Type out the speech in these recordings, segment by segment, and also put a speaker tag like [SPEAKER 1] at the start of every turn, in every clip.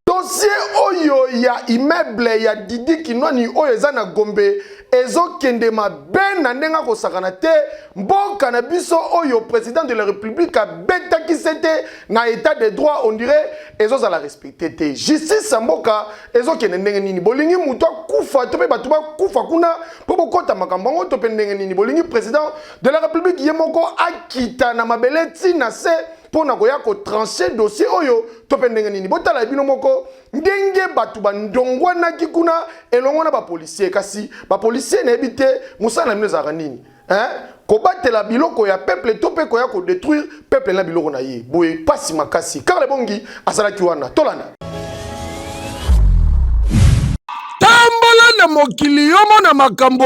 [SPEAKER 1] dossier oyo ya immeuble ya didi kinwani oyo eza na gombe ezokende mabe na ndenge akosakana te mboka na biso oyo président de la république abetaki se te na état de droit on dirait ezozala respecte te justice ya mboka ezokende ndenge nini bolingi moto akufa to mpe bato bakufa kuna mpo bokɔta makambo yango to mpe ndenge nini bolingi président de la république ye moko akita na mabele ntina se mpo na koya kotranche dossier oyo to mpe ndenge nini botala ya bino moko ndenge bato bandongwanaki kuna elongo na bapolisier kasi bapolisier nayebi te mosala na bino ezalaka nini eh? kobatela biloko ya peuple to mpe koya kodetruire peuple na biloko na ye boye mpasi makasi karle bongi azalaki wana tolanda tambola na mokili yomona makambo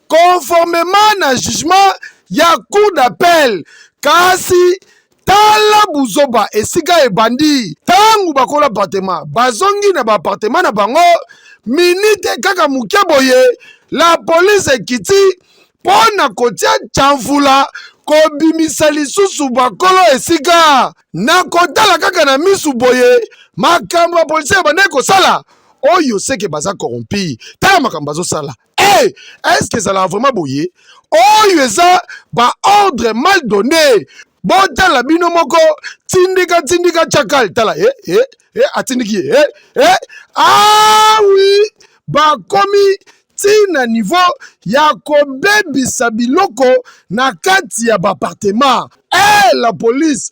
[SPEAKER 1] conformement na jugement ya cour d'appel kasi tala buzoba esika ebandi ntango bakola apartema bazongi na baapartema na bango minite kaka moke boye la police ekiti mpo na kotia camfula kobimisa lisusu bakolo esika na kotala kaka na misu boye makambo ya polisi ebandaki kosala oyo seke baza corrompi tala makambo bazosala hey, est-ce que ezalaka vraiment boye oyo eza baordre mal donné botala bino moko tindika tindika chakal tala e eh, e eh, e eh, atindiki ye e e awi ah bakomi ntina niveau ya kobebisa biloko na kati ya bapartema e la police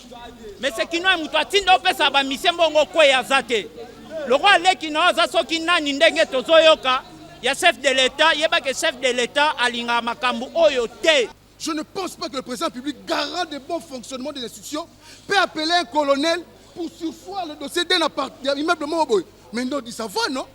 [SPEAKER 2] mese
[SPEAKER 3] kinois moto atinda opesa bamisie mbongo kwei aza te lokola leki na yo aza soki nani ndenge tozoyoka ya chef de l'etat yebake chef de l'etat alingaka makambo oyo te Je ne pense pas
[SPEAKER 4] que le président public, garant des bons fonctionnements des institutions, peut appeler un colonel pour sursoir le dossier d'un immeuble Moboy. Mais non, dit ça va, non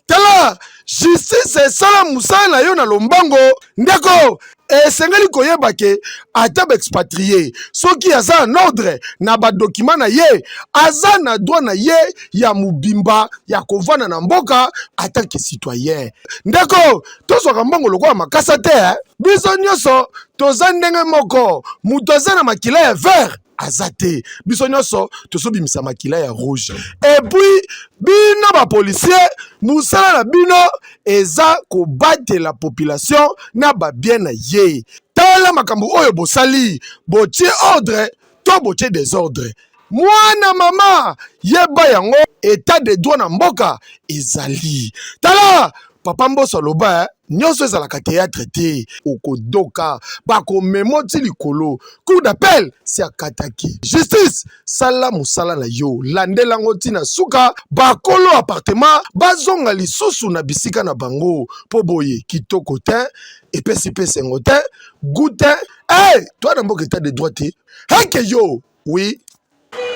[SPEAKER 4] tala
[SPEAKER 1] justice esala mosala na yo na lombango ndeko esengeli koyeba ke ata baexpatrie soki aza en ordre na badokima na ye aza na droit na ye ya mobimba ya kovanda na mboka ata ke citoyen ndeko tozwaka mbongo lokola makasa te eh? biso nyonso toza ndenge moko moto aza na makila ya vert aza te biso nyonso tozobimisa makila ya rouge epuis bino bapolisier mosala na bino eza kobatela population na babien na ye tala makambo oyo bosali botie ordre to botie desordre mwana mama yeba yango etat de droit na mboka ezali tala papa mboso aloba eh? nyonso ezalaka théâtre te okodoka bakomemo ti likolo cour d'appel si akataki justice sala mosala na yo landela yango ntina suka bakolo appartement bazonga lisusu na bisika na bango mpo boye kitoko te epesi mpe esengo te goût te hey, eh, toi na mboka etat de droit te heke yo Oui.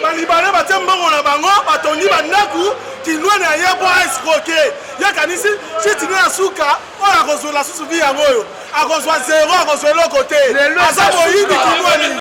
[SPEAKER 1] Balibane
[SPEAKER 5] batie mbongo na bango batongi bandako kindwani ya ye mpo aescroke ye akanisi chiti nde ya suka oyo akozwela susu vi yango oyo akozwa zero akozwa eloko te aza moyibi kindwani